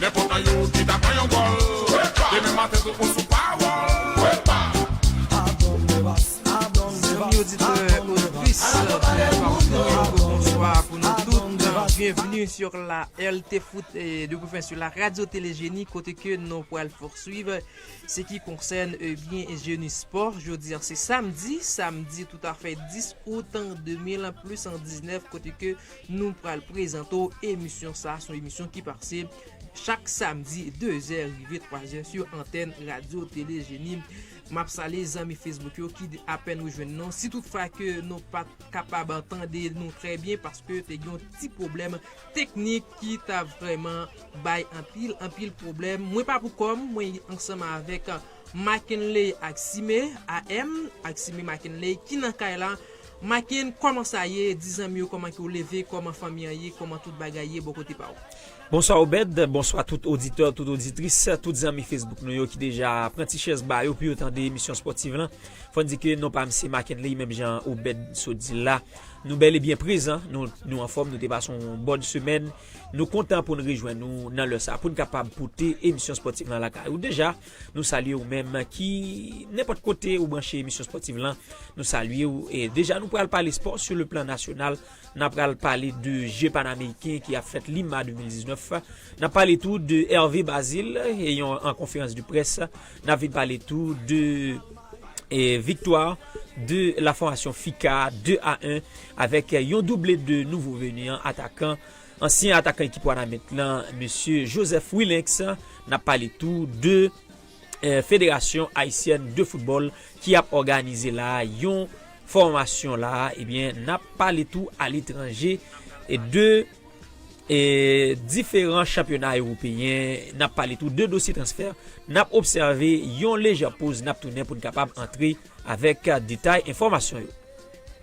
Nenpòt nan yo ki ta pran yon gòl. Demen maten tou ou sou pawòl. Zanmi oditè oditris Bonswa pou nou tout Bonswa pou nou tout Byenvni sur la rtfoot Depoufen sur la radio tele jeni Kote ke nou pwal porswiv Se ki konsèn ebyen jeni spò Jodi an se samdi Samdi toutafè 10 out 2000 plis 19 Kote ke Nou pral prezante w emisyon sa, son emisyon ki pase chak samdi 2 zè rive 3 zè sou antèn radyo tele jeni. Map salye zanmi Facebook yo ki apèn rejwenn nou. Si tout fwa ke nou pat kapab tande nou trè byen paske te gen yon ti pwoblèm teknik ki ta vrèman bay anpil anpil pwoblèm. Mwen pa pou kòm, mwen ansanm avèk. Makenley Axime, AM, Axime Makenley, ki nan kay la, Maken, kòman sa ye, di zanmi yo kòman ke w leve, kòman fanmi an ye, kòman tout bagay ye bò kote pa w. Bonswa Obed, bonswa tout oditè, tout oditris, tout zanmi Facebook nou yo ki deja pran ti chèz ba yo pou yo tande emisyon spòtiv lan. Fò n di ke non pa m se Makenley, menm jan Obed sot di l la. Nou bèl e byen prezan, nou anfòm, nou te pase yon bòn semèn. Nou kontan pou n rejwenn ou nan lè sa a pou n kapab pote emisyon spòtiv lan lakay ou. Deja! Nou salye ou menm ki nenpòt kote ou branche emisyon spòtiv lan. Nou salye ou. E deja nou pral pale spò sou le plan nasyonal. Nan pral pale de je panameriken ki ap fèt Lima 2019. Nan pale tou de Hervé Bazile e yon an konferans de près. Nan vin pale tou de viktwa de la fòmasyon FIKA 2 a 1 avèk yon double de nouvo veni an atakan. Ansyen atakan ekip Wanament lan Mesye Joseph Wilynx, n ap pale tou de Federasyon Ayisyèn de Foutbòl ki ap òganize la a yon fòmasyon la a ebyen n ap pale tou aletranje de diferan chanpyona ewopeyen n ap pale tou de dosye transfè n ap obsève yon lejè poz n ap tounen pou n kapab antre avèk detay enfòmasyon yo.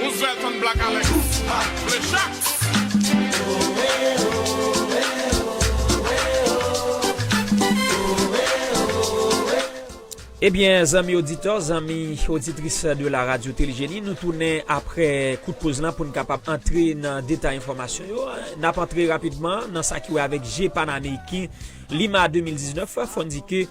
Roosevelt and Black Alex vle chak. Ebyen zanmi oditè, zanmi oditris de la radio Teligenie nou tounen apre kout poz lan poun kapab antre nan detay enfòmasyon yo. Nap antre rapidman nan sa ki wè avèk je panameyiken lima 2019 fòn di ke.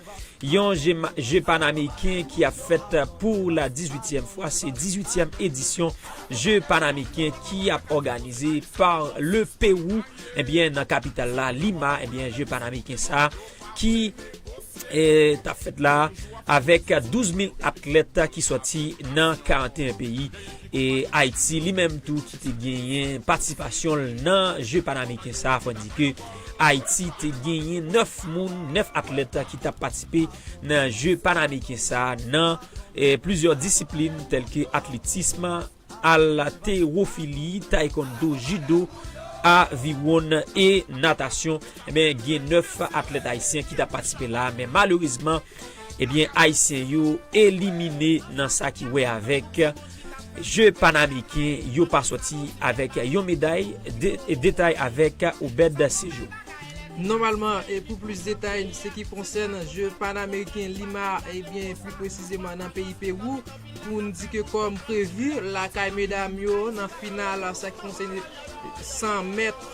Yon je panameriken ki ap fèt pou la 18 tièm fwa, se 18 tièm edisyon je panameriken ki ap òganize pa le Pewou ebyen eh nan kapital la Lima ebyen eh je panameriken sa ki tap fèt la avèk 12 mil atlèt ki sòti nan 41 peyi e Ayiti li menm tou ki te genyen patisipasyon nan je panameriken sa fò di ke. Ayiti te genyen 9 moun, 9 atlèt ki tap patisipe nan je Panameriken sa nan plizyè disiplin tèlke atletism, alterofili, taekwondo, jido, aviwon e natasyon. Gen 9 atlèt ayisyen ki tap patisipe la men malerezman Ebyen ayisyen yo elimine nan sa ki wè avèk je panameriken yo pa sòti avèk yon meday detay avèk obed sejour. Nòmalman e pou plis detay n se ki konsèn je panameriken lima ebyen pli presizeman nan peyi pewou pou n di ke kòm prevu lakay medam yo nan final sa ki konsène 100 mèt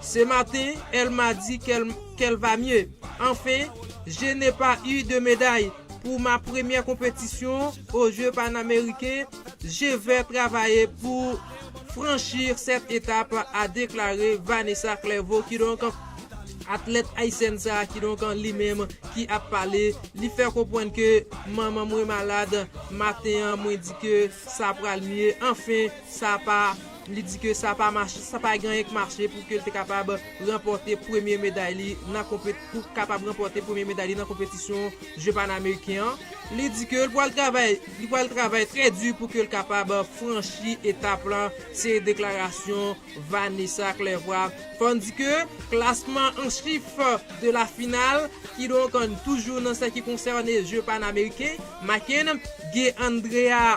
Ce matin elle m'a dit qu'elle va mieux enfin je n'ai pas eu de médaille pour ma première compétition aux jeux panaméricains, je vais travailler pour franchir cette étape a deklare Vanessa Clerveau ki donk atlèt ayisyèn sa ki donk li menm ki ap pale li fè konprann ke manman mwen malad maten an mwen di ke sa pral mye anfen sa pa Li di ke sa pa mache, sa pa gen anyen k mache pou ke l te kapab ranpòte premye meday li nan konpeti, pou kapab ranpòte premye meday li nan konpetisyon je panameriken an. Li di ke l pwal travay, li pwal travay trè di pou ke l kapab franchi etap lan, se deklarasyon Vanessa Clervois. Fò n di ke klasman an chif de la final, kidonk toujou nan sa ki konsène je panameriken, Makenn gen Andrea.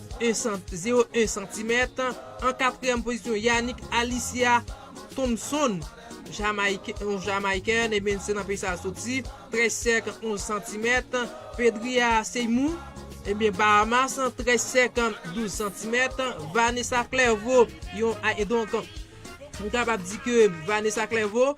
01 santimèt, an katriyèm pozisyon Yanick Alicia Thompson yon Jamayiken ebyen se nan peyi sa soti, 13 sèk 11 santimèt, Pedria Seymou ebyen Bahamas, 13 sèk 12 santimèt, Vanessa Clerveau yon, donk nou kapab di ke Vanessa Clerveau.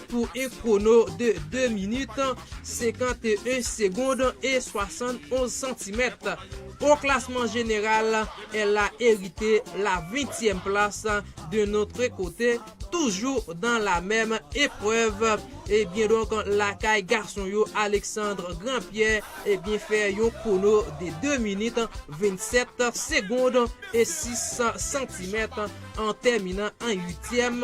pou 1 kwono de 2 minit, 51 segond e 71 santimèt. O klasman jeneral, Ella erite la ventyèm plas de notre kote, toujou dan la mèm eprèv ebyen donk lakay gason yo Alexandre Grand-Pierre ebyen fè yon kwono de 2 minit, 27 segond e 6 santimèt an tèminan an uityèm.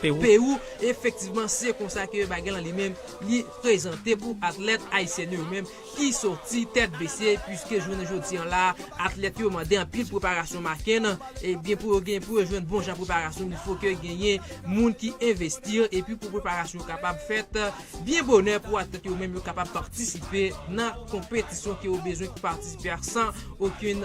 Perou, efektivman se konsa ke bagay lan li menm li prezante pou atlèt ayisyèn yo menm ki soti tèt bese puiske jounen jodi an la atlèt yo mande anpil preparasyon makenn ebyen pou yo gen pou yo jwenn bon jan preparasyon li fo ke genyen moun ki envesti epi pou preparasyon yo kapab fèt byen bonè pou atlèt yo menm yo kapab patisipe nan konpetisyon ke yo bezwen pou patisipe a san okenn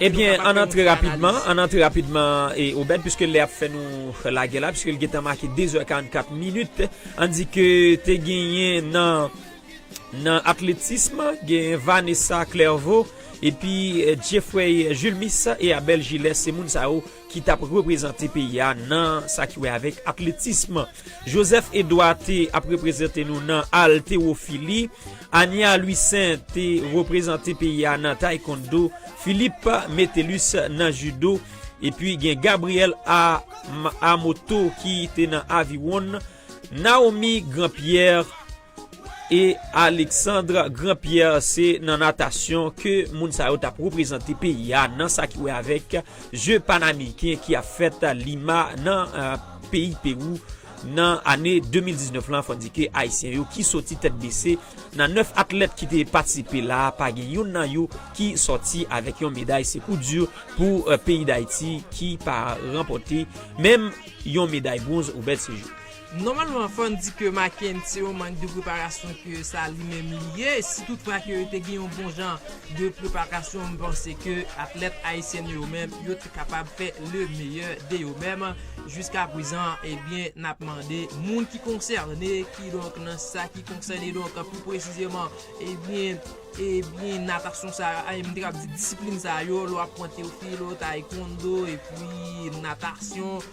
Ebyen, ann antre rapidman, ann antre rapidman, Obed, piske lè a ap fè nou lage la, piske li gen tan make dezè karannkat minit. Ann di ke te genyen nan atletism, genyen Vanessa Clerveau, epi Jeffrey Julmis e Abel Gilles, se moun sa yo. ki t ap reprezante peyi a nan sa ki wè avèk atletism. Joseph Edouard te ap reprezante nou nan altewofili. Ania Louissaint te reprezante peyi a nan taekwondo. Philippe Metellus nan judo. Epi gen Gabriel Amoto ki te nan aviwon. Naomi Grand Pierre. E Alexandre Grand Pierre se nan natasyon ke moun sa yo tap reprezante peyi a nan sa ki wè avèk je panameriken ki ap fèt Lima nan peyi Perou nan ane 2019 lan fò di ke ayisyen yo ki soti tèt bese nan 9 atlèt ki te patisipe la pa gen youn nan yo ki soti avèk yon meday se kou di pou peyi dayiti ki pa ranpòte menm yon meday bronz Obed Sejour. Nòmalman fòn di ke Macken se yon mank de preparasyon ke sa li menm li ye, si tout fra ke te gen yon bon jan de preparasyon m panse ke atlèt ayisyèn yo menm yo te kapab fè le meyè de yo menm, jiska prezan ebyen nap mande moun ki konsène ki donk nan sa ki konsène donk pi presizeman ebyen ebyen natasyon sa a m te kab di disiplin sa yo lè wap pran Théophile, Taekwondo epwi natasyon.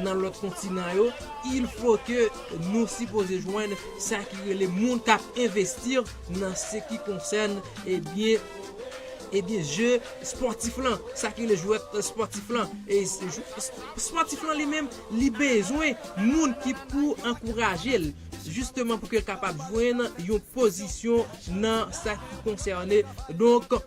Nan lòt kontinan yo, il faut que nou sipoze jwenn sa ki rele moun kap investir nan se ki konsèn ebyen ebyen jeu sportif lan, sa ki rele jwèt sportif lan. E sportif lan li menm li bezwen moun ki pou ankouraje l justement pou ke l kapab jwenn yon pozisyon nan sa ki konsène donk.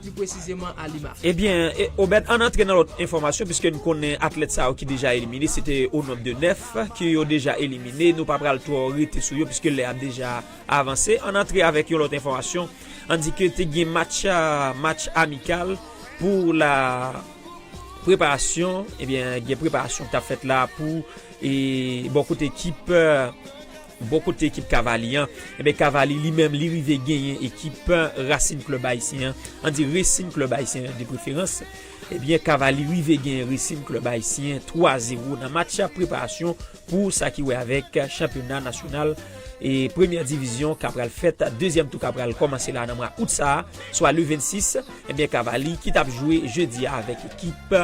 pli presizeman a Lima. Ebyen, Obed, ann antre nan lòt enfòmasyon piske n konnen atlèt sa yo ki deja elimine se te o nonb de 9 ke yo deja elimine, nou pa pral twò rete sou yo piske lè ap deja avanse. Ann antre avèk yon lòt enfòmasyon, ann di ke te gen match, match amikal pou la preparasyon, ebyen gen preparasyon k t ap fèt la pou bò kote ekip. Bò kote ekip Cavaly an, enben Cavaly li menm li rive genyen ekip Racing Club Haïtien an, an di Racing Club Haïtien an de preferans, enben Cavaly rive genyen Racing Club Haïtien 3 zero nan match preparasyon pou sa ki wè avèk chanpyona nasyonal e premyè divizyon ka pral fèt, dezyèm tou ka pral kòmanse la nan mwa out sa a, swa le 26, enben Cavaly ki t ap jwe jedi a avèk ekip.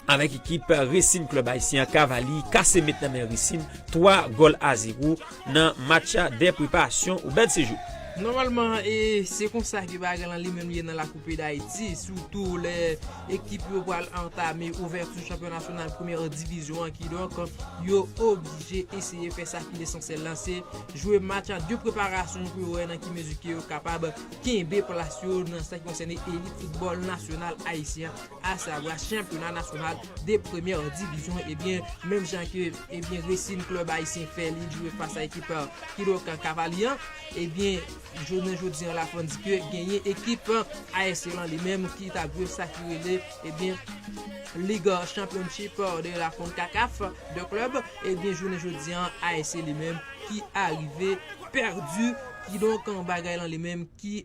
Avèk ekip Racing Club Haïtien an Cavaly kase met nan men Racing 3 gòl a 0 nan match de preparasyon ou bèl sejou. Nòmalman e se konsa ke bagay lan li menm ye nan la Coupe d'Haïti sitou lè ekip yo pral antame ouvèti chanpyona nasyonal premyè divizyon an kidonk yo oblije eseye fè sa ki lesansyèl lan se jwe match de preparasyon pou yo wè nan ki mezi ke yo kapab kenbe plas yo nan sa ki konsène elit foutbòl nasyonal ayisyen an. Asa Bra chanpyona nasyonal de premyè divizyon ebyen menm jan ke ebyen resin klèb ayisyen fè li jwe fas a ekip Kilokan Kavali an ebyen jounen jodi an la fòn di ke genyen ekip ASC lan li menm ki tap jwe sa ki rele ebyen lig chanpyonchip de la Konkakaf de klèb ebyen jounen jodi an ASC li menm ki arive pèdi kidonk bagay lan li menm ki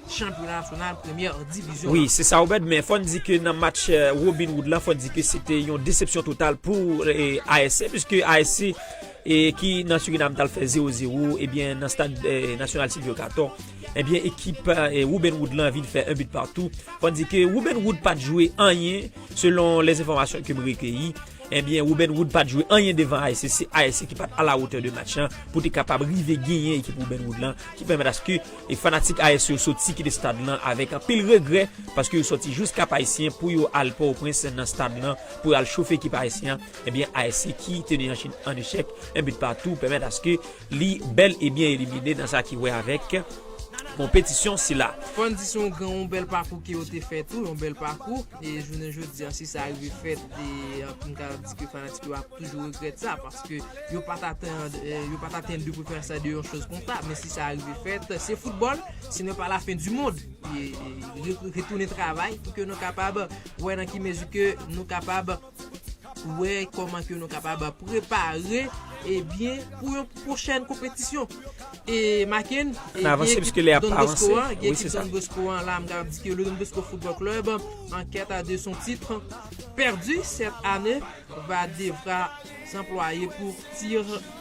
chanpyona nasyonal premyè divizyon an. Wi, se sa Obed, men fò n di ke nan match Robin Hood la, fò n di ke se te yon desepsyon total pou ASC, puiske ASC ki nan Surinam t al fè 0 0, ebyen nan stad nasyonal Sylvio Cator, ebyen ekip Robin Hood lan vin fè 1 but partout. Fò n di ke Robin Hood pa t jwe anyen, selon lè enfòmasyon ke m rekeyi, ebyen Robin Hood pa t jwe anyen devan ASC, se ASC ki pa t a la hauteur de match lan pou te kapab rive genyen ekip Robin Hood lan, ki pèmèt aske. E fanatik AS yo soti kite stad lan avèk anpil regrè paske yo soti jous Kap Ayisyen pou yo al Pòtoprens nan stad lan pou yo al chofe ekip AS lan, ebyen AS ki te ne an echèk 1 but partout pèmèt aske li bèl e byen elimine nan sa ki wè avèk konpetisyon sila. Fò n di se yon gran yon bèl pakou ke yo te fè tou, yon bèl pakou. E jounen jodi an si sa rive fèt m ka di ke fanatik yo ap toujou regrèt sa paske yo pa t atann yo pa t atann de preferans sa de yon choz konsa men si sa rive fèt se foutbòl se nè pa la fen di mond retounen travay pou ke nou kapab wè nan ki mezi ke nou kapab wè kòman ke nou kapab prepare e byen pou yon pwochèn konpetisyon e Makenn e byen ekip Don Bosco an gen ekip Don Bosco an la m ka di ke le Don Bosco Football Club an kèt a de son titre pèdi sèt ane va devra sanplwaye pou tir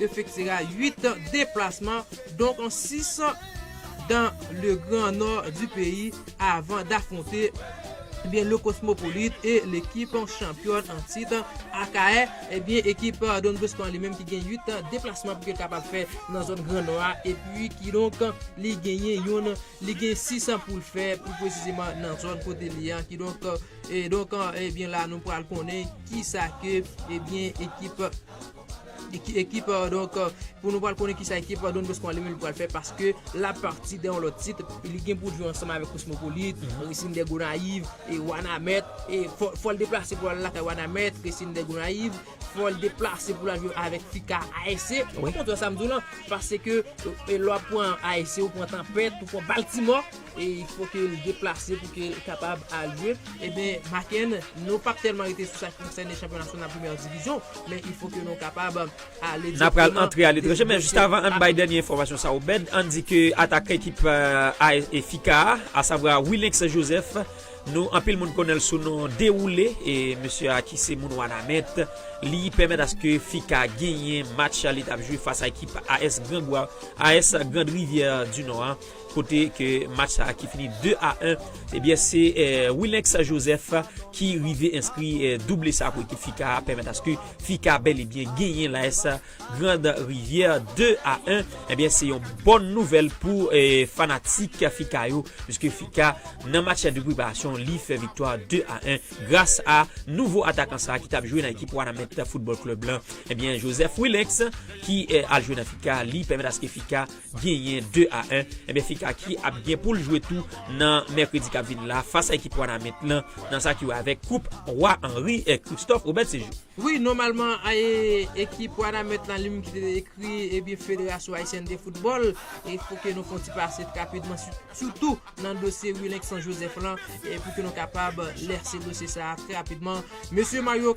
efektira 8 deplasman, donk 6 dan le gran nò di peyi avan dafwonte ebyen Le Cosmopolite e lekip chanpyòn an tit Akayè ebyen ekip Don Bosco an li menm ki gen 8 deplasman pou ke l kapab fè nan zòn gran nò a epi kidonk li genyen yon li gen 6 pou l fè pi presizeman nan zòn kote li an kidonk e donk ebyen la nou pral konnen kisa ke ebyen ekip. Ekip donk pou nou pral konnen kisa ekip Don Bosco an li menm li pral fè paske l ap pati de yon lòt tit li gen pou l jwe ansanm avèk Kosmopolit, Resin dè Gonayiv e Wanamèt e fò l deplase pou l al lakay Wanamèt, Resin dè Gonayiv fò l deplase pou l al jwe avèk Fika ASC ou konprann sa m di w lan paske lè w ap pran ASC ou pran Tanpèt ou pran Baltimò. e il fo ke l deplase pou ke l kapab alye, eben Bakken nou pap tèlman rete sou sa ki konsène chanpyona nasyonal premyè divizyon, men il fo ke nou kapab ale direkteman. N a pral antre aletranje, men jis avan ann bay dènye enfòmasyon sa Obed, ann di ke atakan ekip AS FIKA a, asavwa Wilynx Joseph, nou anpil moun konnen l sou non Dewoule, e mesye a ki se moun Wanament, li pèmèt aske FIKA genyen match li t ap jwe fas a ekip AS Grangwav, AS Grandrivyè di Nò a. Kote ke match sa ki fini 2 a 1, ebyen se Wilynx Joseph ki rive enskri double sa pou ekip FICA a, pèmèt aske FICA bèl e byen genyen l'AS Grande Rivière 2 a 1. Ebyen se yon bòn nouvèl pou fanatik FICA yo, puiske FICA nan match de preparasyon li fè viktwa 2 a 1 gras a nouvo atakan sa ki tap jwe nan ekip Wanament Football Club lan. Ebyen Joseph Wilynx ki al jwe nan FICA li pèmèt aske FICA genyen 2 a 1, enben Fikaki ap gen poul jwe tou nan mèkredi kap vini la fas a ekip Wanament lan nan sa ki wè avèk koup Roi Henri Christophe Robert Séjour. Wi, nòmalman ekip Wanament lan li menm ki te ekri ebyen Federasyon Ayisyèn de Foutbòl, e pou ke nou fè yon ti pase rapidman sitou nan dosye Willinkson Joseph lan, pou ke nou kapab lèse dosye sa a trè rapidman, mesye Mario.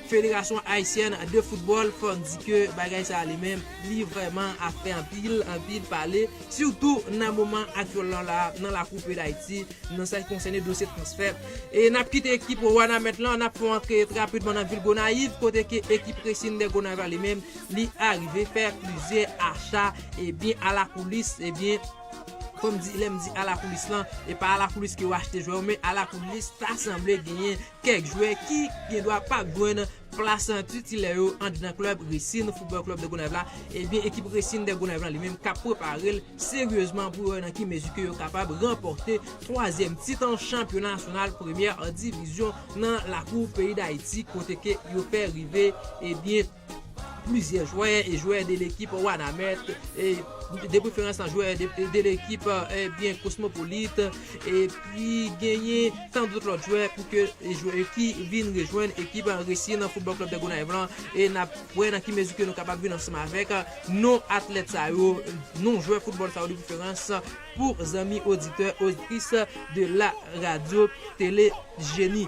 Federasyon Ayisyèn de Foutbòl fòk di ke bagay sa li menm li vrèman ap fè anpil, anpil pale sitou nan moman aktyèl lan la nan lakou peyi Dayiti nan sa ki konsène dosye transfè. E nap kite ekip Wanament lan nap fon antre trapidman nan vil Gonayiv kote ke ekip Racing de Gonayiv la li menm li arive fè plizyè acha ebyen alakoulis ebyen fòm di lèm di alakoulis lan e pa alakoulis ke ou achte jwè ou men alakoulis ta sanble genyen Kèk jwè ki gendwa pa jwenn plas titilè yo anndan klèb Racing Football Club de Gonaive la, ebyen ekip Racing de Gonaive la li menm kap prepare l seryezman pou yo wè nan ki mezi ke yo kapab ranpòte twazyèm tit chanpyona nasyonal premyè divizyon nan lakou peyi Dayiti kote ke yo fè rive ebyen Plizyè jwè e jwè de lekip Wanament, de preferans an jwè de lekip ebyen Kosmopolit, epi genyen tan dout lòt jwè pou ke jwè ki vin rejwenn ekip Resi nan Foutbòl Klèb de Gonayiv lan e n ap wè nan ki mezi ke nou kapab vin ansanm avèk non atlèt sa yo, non jwè foutbòl sa yo de preferans pou zanmi oditè, oditris de la radyo Tele Jeni.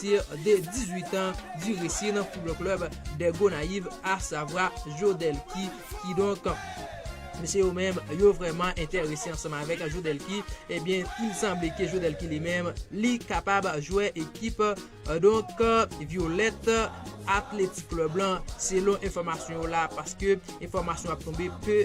tir de 18 an du Resin Football Club de Gonayiv asavwa Jodelky kidonk mesye yo menm yo vrèman entèrese ansanm avèk Jodelky ebyen il sanble ke Jodelky li menm li kapab jwè ekip donk Violèt Athletic Club lan selon enfòmasyon yo la paske enfòmasyon ap tonbe ke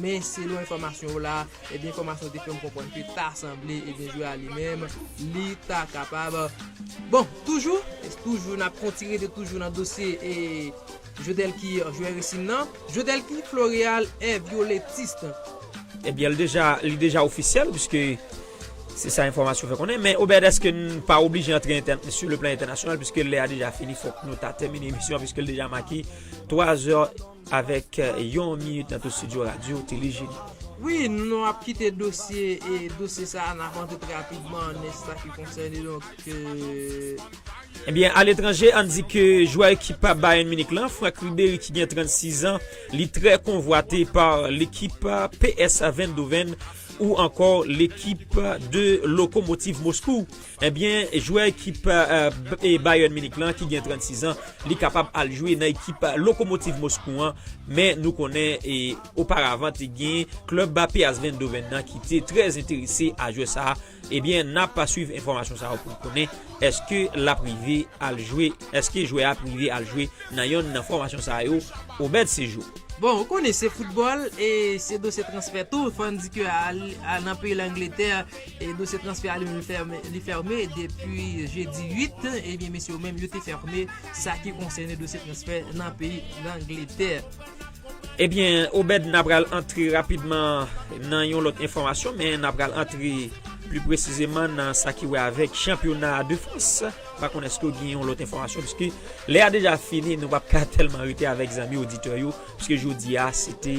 Men selon enfòmasyon yo la, ebyen enfòmasyon yo te fèm konprann ke ta sanble ebyen jwè a li menm li ta kapab Bon, toujou, toujou nap konti rete toujou nan dosye e Jodelky jwè resin nan, Jodelky Floreal est violettiste. Ebyen li deja ofisyèl puiske se sa enfòmasyon fè konnen men Obed eske n pa oblije antre sou le plan entènasyonal puiske lè a deja fini fòk nou ta tèmine emisyon an puiske l deja make 3 zè. Avèk yon minit nan tout studio radyo, tele jedi. Wi, nou ap kite dosye e dosye sa a, n ap antre pi rapidman nan sa ki konsène donk. Ebyen, aletranje, ann di ke jwè ekip Bayern Munich lan, Franck Ribery ki gen 36 an, li trè konvwate pa lekip PSV Eindhoven ou ankò lekip de Lokomotiv Moskou. Ebyen jwè ekip Bayern Munich lan ki gen 36 an li kapab al jwe nan ekip Lokomotiv Moskou an men nou konnen oparavan te gen klub PSV Eindhoven nan ki te trè enterese a jwè sa ebyen nap swiv enfòmasyon sa yo pou n konnen eske lap rive al jwe eske jwè a ap rive al jwe nan yonn nan fòmasyon sa yo Obed Sejou. Bon ou konnen se foutbòl e se dosye transfè tou fò n di ke nan peyi Langletè Dosye transfè a li menm li fèmen depi jedi 8, ebyen mesye yo menm yo te fèmen sa ki konsènen dosye transfè nan peyi Langletè. Ebyen Obed na pral antre rapidman nan yon lòt enfòmasyon men na pral antre pli presizeman nan sa ki wè avèk chanpyona de Frans. Pa konn eske ou gen yon lòt enfòmasyon pwiske lè a deja fini nou pa p ka tèlman rete avèk zanmi oditè yo pwiske jodi a se te.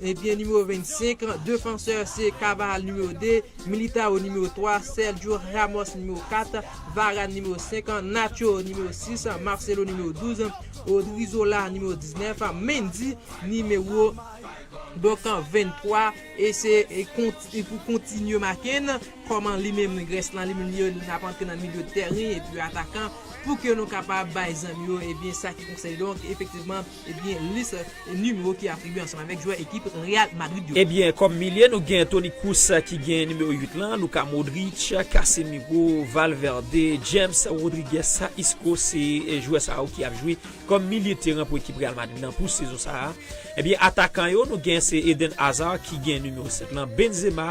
Ebyen nimewo 25, defansè, se Carvajal nimewo 2, Militao nimewo 3, Sergio Ramos nimewo 4, Varane nimewo 5, Nacho nimewo 6, Marcelo nimewo 12, Odrizola nimewo 19, Mendy nimewo donk 23 e se pou kontinye make n kòman li menm rès lan li menm li n ap antre nan milyo tèren epi atakan pou ke nou kapab bay zanmi yo ebyen sa ki konsèy donk efektivman Ebyen lis nimewo ki atribye ansanm avèk jwè ekip Real Madrid yo. Ebyen kòm milye nou gen Toni Kroos ki gen nimewo 8 lan, Luka Modric, Casemiro, Valverde, James Rodriguez, Isco se jwè sa yo ki ap jwe kòm milye teran pou ekip Real Madrid lan pou sezon sa a. Ebyen atakan yo nou gen se Eden Hazard ki gen nimewo 7 lan, Benzema,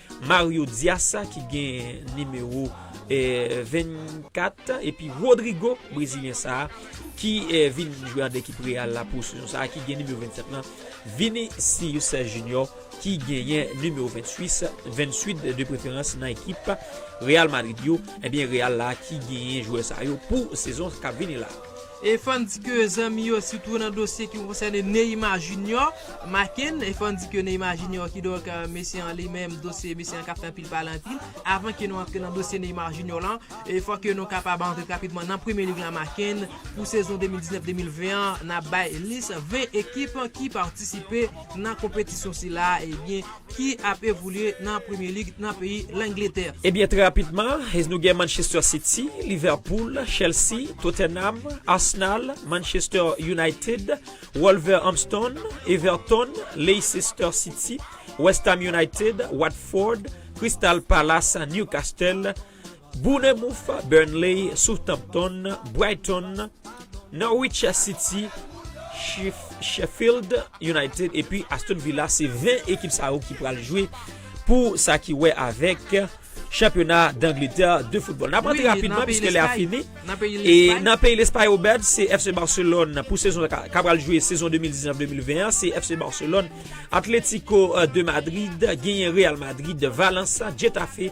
Mario Dias ki gen nimewo 24 epi Rodrygo brezilyen sa ki vin jwe ak ekip Real la pou sezon sa ki gen nimewo 27 lan, Vinicius Junior ki genyen nimewo 28 de preferans nan ekip Real Madrid yo, ebyen Real la ki genyen jwè sa yo pou sezon kap vini la. E fòn di ke zanmi yo sitou nan dosye ki konsène Neyma Junior, Macken, e fòn di ke Neyma Junior kidonk mesye an li menm dosye mesye an kap fè anpil pale anpil, avan ke nou antre nan dosye Neyma Junior lan, e fòk ke nou kapab antre rapidman nan premye lig la Macken, pou sezon 2019, 2020 an, nap bay lis 20 ekip ki patisipe nan konpetisyon sila, ebyen. ki ap evolye nan Premier League nan peyi Langletè. Ebyen trè rapidman nou gen Manchester City, Liverpool, Chelsea, Tottenham, Arsenal, Manchester United, Wolverhampton, Everton, Leicester City, West Ham United, Watford, Crystal Palace, Newcastle, Bournemouth, Burnley, Southampton, Brighton, Norwich City, Sheffield United epi Aston Villa se 20 ekip sa yo ki pral jwe pou sa ki wè avèk chanpyona d'Angletè de football. N ap antre rapidman piske lè a fini. E nan peyi Lespay Obed se FC Barcelone pou sezon sa ka pral jwe sezon 2019-2020 an se FC Barcelone, Atletico de Madrid genyen Real Madrid, Valence, Getafe.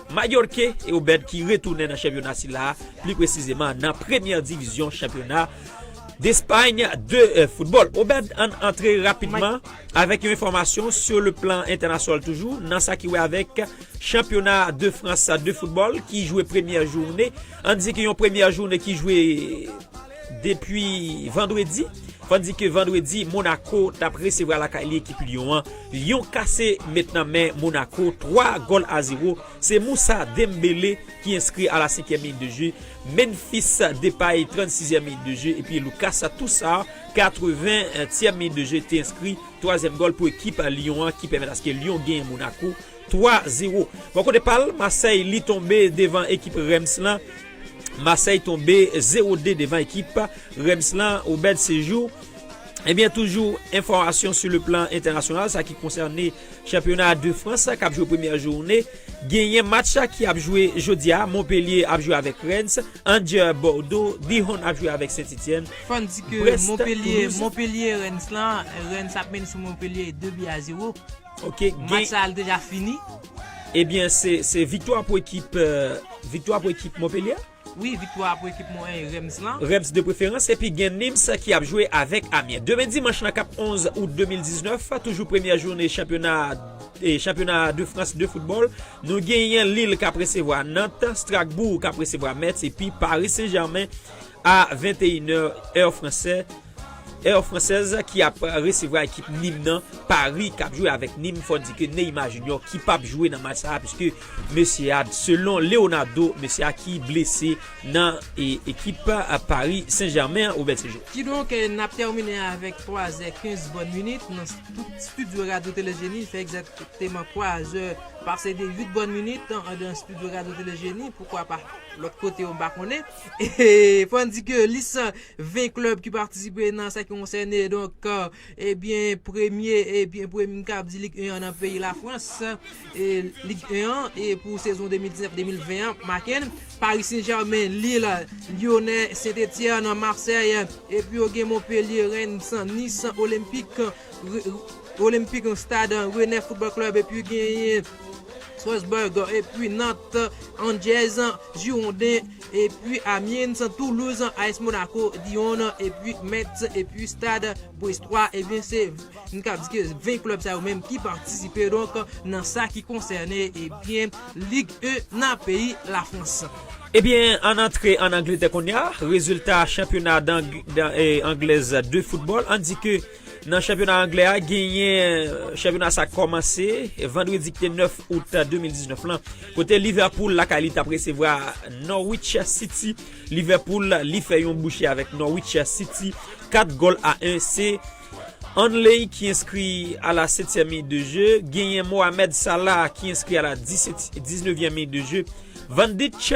Majorque e Obed ki retounen nan chanpyona sila a, pli presizeman nan premyè divizyon chanpyona Despay de foutbòl. Obed, ann antre rapidman avèk yon enfòmasyon sou le plan entènasyonal toujou nan sa ki wè avèk chanpyona de Frans de foutbòl ki jwe premyè joune. Ann di ki yon premyè joune ki jwe. Depi vandredi, fò di ke vandredi Monaco tap resevwa lakay li ekip Lyon an, Lyon kase met nan men Monaco 3 gòl a 0, se Moussa Dembele ki enskri a la senkyèm minit de je, Memphis Depay 36 zièm minit de je epi Lucas Tousart 80 tièm minit de je te enskri twazyèm gòl pou ekip Lyon an ki pèmèt aske Lyon genyen Monaco 3 0. Bò kote pal, Marseille li tonbe devan ekip Reims lan. Marseille tonbe 0 2 devan ekip Reims lan Obed Sejou Ebyen toujou enfòmasyon sou le plan entènasyonal sa ki konsène chanpyona de Frans k ap jwe premyè joune genyen match ki ap jwe jodi a Montpellier ap jwe avèk Rennes Angers Bordeaux Dijon ap jwe avèk Saint-Etienne Fò n di ke Montpellier Montpellier Rennes lan Rennes ap mennen sou Montpellier 2 bi a 0. Match sa deja fini? Ebyen se viktwa pou ekip viktwa pou ekip Monpelye? Wi viktwa pou ekip Monpelye Reims lan. Reims de preferans epi gen Nims ki ap jwe avèk Amyen. Demen dimanch lan kap 11 out 2019 toujou premyè joune chanpyona chanpyona de Frans de foutbòl nou genyen Lille kap resevwa Nant, Stracbourg kap resevwa Metz epi Paris Saint Germain a 21 è èr fransè. Air Française ki ap resevwa ekip Nîmes nan Paris kap jwe avèk Nîmes fò di ke Neymar Junior ki pap jwe nan match sa puiske mesye a selon Leonardo mesye a ki blese nan ekip Paris Saint Germain Robert Séjour. Kidonk nap tèmine avèk 3 zè 15 bòn minit nan studio radyo tele jeni li fè egzakteman 3 zè pase de 8 bòn minit andan studio radyo tele jeni poukwa pa lòt kote yo m pa konnen. Fò n di ke lis 20 klèb ki patisipe nan sa ki konsène donk ebyen premye ebyen premye m kab di lig 1 an nan peyi Lafrans lig 1 an pou sezon 2019, 2020 an make n Paris Saint Germain, Lille, Lyonnais, Saint Etienne, Marseille epi yo gen Montpellier, Reims, Nice, Olympique Olympique Stade Rennais Football Club epi genyen. Strasbourg, epi Nantes, Angers, Girondins, epi Amiens, Toulouse, AS Monaco, Lyon, epi Metz, epi Stade Brestois, ebyen se nou kab di ke 20 klèb sa yo menm ki patisipe donk nan sa ki konsène ebyen Ligue 1 nan peyi la Frans. Ebyen ann antre ann Angletè kounya, rezilta chanpyona anglèz de football an di ke. Nan chanpyona anglè a genyen chanpyona sa kòmanse vandredi ki te 9 out 2019 lan kote Liverpool lakay li tap resevwa Norwich City Liverpool li fè yon bouche avèk Norwich City 4 gòl a 1 se Hanley ki enskri a la 7 tyèm minit de je genyen Mohamed Salah ki enskri a la 19 tyèm minit de je Van Dijk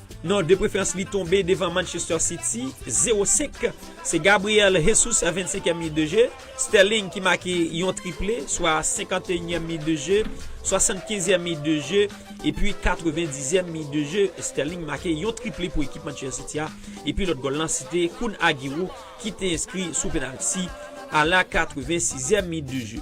Non de preferans li tonbe devan Manchester City 0 5 se Gabriel Jesus a 25 èm minit de je Sterling ki make yon triple swa 51 èm minit de je 75 èm minit de je epi 90 èm minit de je Sterling make yon triple pou ekip Manchester City a epi lòt gòl lan sete Kun Aguero ki te enskri sou penalti a la 86 èm minit de je.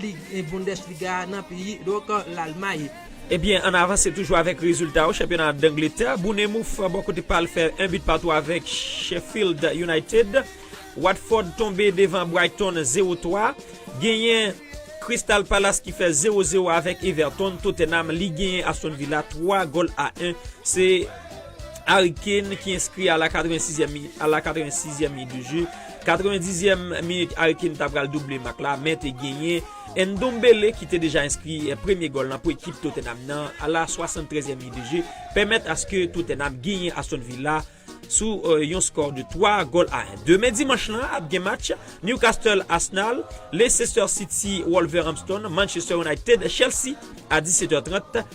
Lig 1 Bundesliga a nan peyi donc Lalmay. Ebyen ann avanse toujou avèk rezilta yo chanpyona Dangletè, Bournemouth bò kote pa l fè 1 but partout avèk Sheffield United, Watford tonbe devan Brighton 0 3, genyen Crystal Palace ki fè 0 0 avèk Everton, Tottenham li genyen Aston Villa 3 gòl a 1 se Harry Kane ki enskri a la 86 èm minit de jeu. 80 dizyèm minit Harry Kane ta pral double mak la men te genyen Ndombele ki te deja enskri premye gòl la pou ekip Tottenham nan a la 73 zièm minit de je pèmèt aske Tottenham genyen Aston Villa sou yon skò de 3 gòl a 1. Demen dimanch lan ap gen match Newcastle Arsenal, Leicester City Wolverhampton, Manchester United Chelsea a 17 è 30.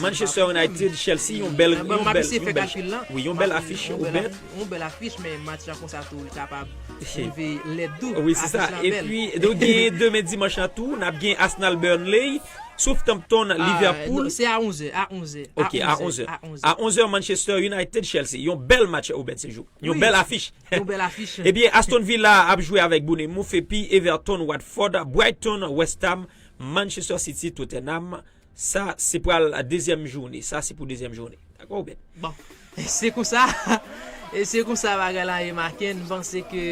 Manchester United, Chelsea, yon bèl afich. Yon bèl afich. Yon bèl afich, men match la konsa tou li kapab rive lèd tou. Afich la bèl. Wi, se sa. E pi, nou gen demen dimanch la tou, n ap gen Arsenal Burnley, Southampton Liverpool. Se a 11 è. A 11 è. Ok, a 11 è. A 11 è, Manchester United, Chelsea. Yon bèl match ou bèt sejou. Yon bèl afich. Yon bèl afich. E pi, Aston Villa ap jwe avèk Bournemouth, e pi Everton, Watford, Brighton, West Ham. Manchester City Tottenham sa se pral dezyèm joune sa se pou dezyèm joune dakò ou bèt. Bon se konsa se konsa bagay la ye Macken m panse ke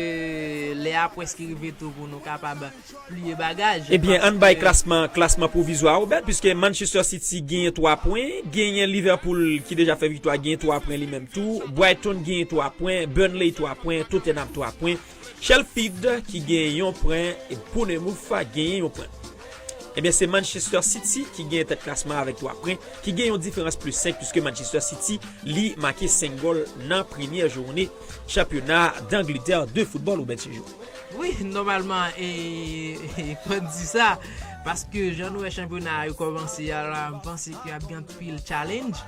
lè a pwèske rive tou pou nou kapab pliye bagaj. Ebyen ann bay klasman klasman pwovizwa a ou bèt piske Manchester City genyen 3 pwen genyen Liverpool ki deja fè viktwa genyen 3 pwen li menm tou Brighton genyen 3 pwen Burnley 3 pwen Tottenham 3 pwen Chelpid ki gen yon pwen e Bournemouth genyen yon pwen. Ebyen se Manchester City ki genyen tèt klasman avèk 3 pwen ki gen yon diferans plis 5 puiske Manchester City li make 5 gòl nan premyè joune chanpyona Danglitè de foutbòl Roubèn Sejou. Wi nòmalman e fò n di sa paske jan n wè chanpyona a yo kòmanse a la m panse ke ap gen anpil challenge.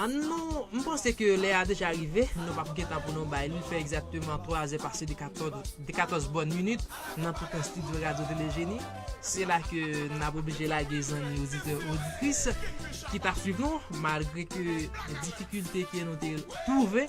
An nou, m panse ke lè a deja rive, nou pap gen tan pou nou bay, li fè egzakteman 3 zè pase de 14 bòn minit nan toutan stidyo Radyo Tele Jeni, se la ke n ap oblije lage zanmi oditè oditris ki t ap swiv nou malgre ke difikilte ke nou te twouve.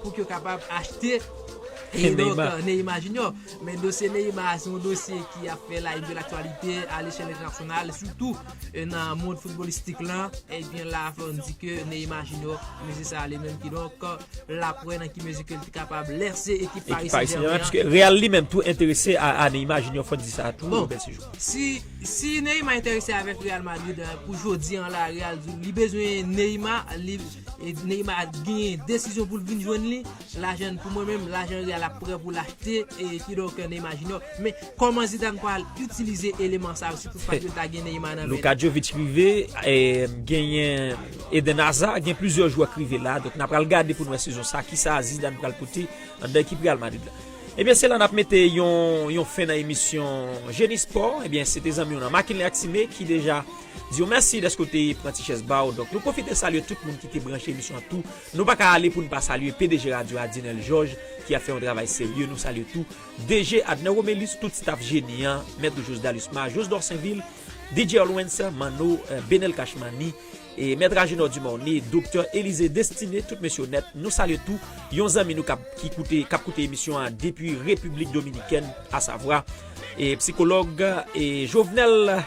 pou yo kapab achte Neymar Junior men dosye Neymar se yon dosye ki ap fè la youn de l'aktualite a l'echelle internationale sitou nan moun footballistik lan e byen la fè yon di ke Neymar Junior mezi sa ale menm ki donk la pwè nan ki mezi ke li te kapab lèse ekip Paris Saint-Germain pwiske Real li menm tou enterese a Neymar Junior fò n di sa tou si Neymar enterese avèk Real Madrid pou jodi an la Real li bezwen Neymar li Neymar gen desizyon poul vin jwenn li, lajan pou mwen menm lajan real ap prè poul achte kidonk Neymar junior, men kòman Zidane pral itilize eleman sa yo si tout fwa li ta gen Neymar nan men li. Luka Jovic rive, genyen Eden Hazard, gen plizyè jwè k rive la, donk na pral gade poun wè sezon sa kisa Zidane pral pote anndan ekip Real Madrid la. Ebyen se la nap mete yon fen nan emisyon Jeni Spò, ebyen se te zanmi w nan Makenley ak Time ki deja Di yo mèsi dèske w te pran ti chèz ba w. Donk nou pwofite salye tout moun ki te branche emisyon an tou. Nou pa ka ale pou n pa salye pdg radyo a Dinel Jòj ki ap fè yon travay serye. Nou salye tou DG Adner Romelus, tout staf Jeni an, Mèt Josda Lusma, Jos Dorsenvil, DJ Olwens, Manno, Benel Cash Money, Mèt Agenor Dumornay, Doktè Elize Destiné, tout mesye onèt. Nou salye tou yon zanmi nou k ap koute emisyon an depi Repiblik Dominikèn asavwa. E psikològ e Jovenel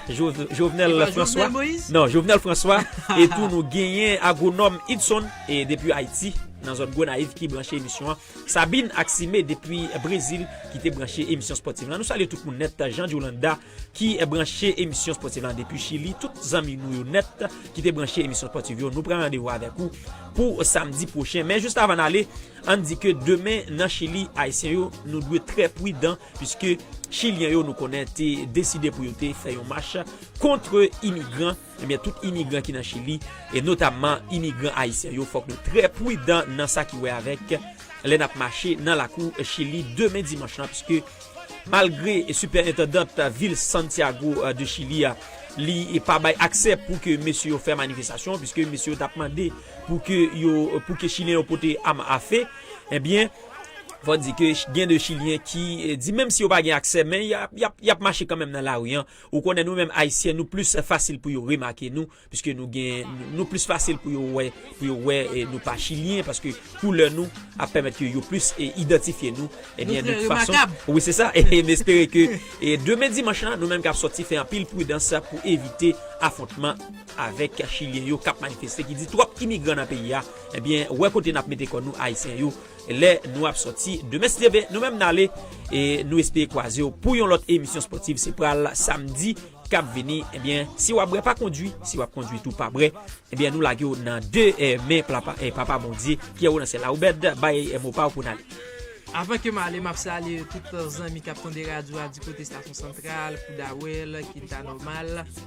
Jovenel François Non Jovenel François E tou nou genyen agronòm Idson E depi Ayiti nan zòn Gonayiv ki branche emisyon Sabine ak Sime depi Brezil ki te branche emisyon Spotiv la Nou salye tout moun nèt Jean Jolanda ki branche emisyon Spotiv la depi Chili Tout zanmi nou yo nèt ki te branche emisyon Spotiv yo Nou pran randevou avèk ou pou samdi pwochen Men jist avan n ale Ann di ke demen nan Chili Ayisyen yo nou dwe trè pwidan Piske chilyen yo nou konnen te deside pou yo te fè yon mach kontre imigran, ebyen tout imigran ki nan chili e notamman imigran ayisyen yo fòk nou trè pwidan nan sa ki wè avèk lè nap mache nan lakou chili demen dimanch lan piske malgre sipèentandant vil santiago de chili a li pa bay aksè pou ke mesye yo fè manifestasyon piske mesye yo tap mande pou ke yo pou ke chilyen yo pote am afe ebyen. Fò di ke gen de chilyen ki di menm si yo pa gen aksè men y ap mache kanmenm nan lari an. Ou konnen nou menm ayisyen nou plis fasil pou yo remake nou piske nou gen nou plis fasil pou yo wè pou yo wè nou pa chilyen paske koulè nou ap pèmèt ke yo plis idantifye nou. Nou trè remakab. Wi se sa e m espere ke demen dimanch la nou menm k ap sòti fè anpil pridans pou evite afontman avèk chilyen yo k ap manifeste ki di twòp imigran nan peyi a. Ebyen wè kote nap mete kò nou ayisyen yo lè nou ap sòti de mestv nou menm nale e nou espere kwazew pou yon lòt emisyon spòtiv se pral samdi kap vini ebyen si wap brè pa kondwi si wap kondwi tou pa brè ebyen nou lagew nan de men plapa e papa bondye pyèro nan syèl la oubèd bay mo paw pou nale. Avan kem ale map salye tout zanmi kap tande radyo a di kote stasyon santral, poudawel, kinta nòmal.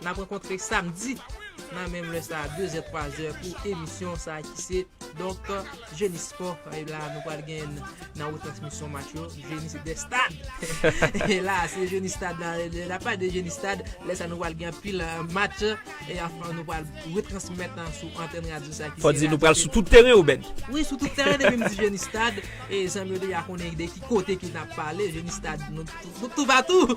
N ap rankontre samdi nan menm lè sa a, dezè, twazè pou emisyon sa a ki se donk Jeni Spò. E la a nou pral gen nan retransmisyon match yo Jeni se de stad. E la a se Jeni stad la. Lè n ap pale de Jeni stad, lè sa a nou pral gen anpil match e anfen nou pral retransmèt nan sou antèn radyo sa a ki se. Fò di nou pral sou tout teren yo Ben. Wi sou tout teren depi m di Jeni stad e zanmi yo deja konnen de ki kote ke n ap pale Jeni stad. Pou toupatou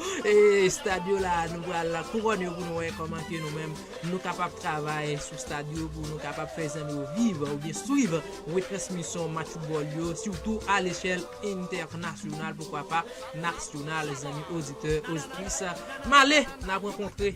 estad yo la nou pral kouròn yo pou nou wè kòman ke nou menm nou kapab travay sou stad yo pou nou kapab fè zanmi yo viv oubyen swiv retransmisyon match foutbòl yo sitou alechèl entènasyonal poukwa pa nasyonal zanmi oditè oditrice. Male nap rankontre.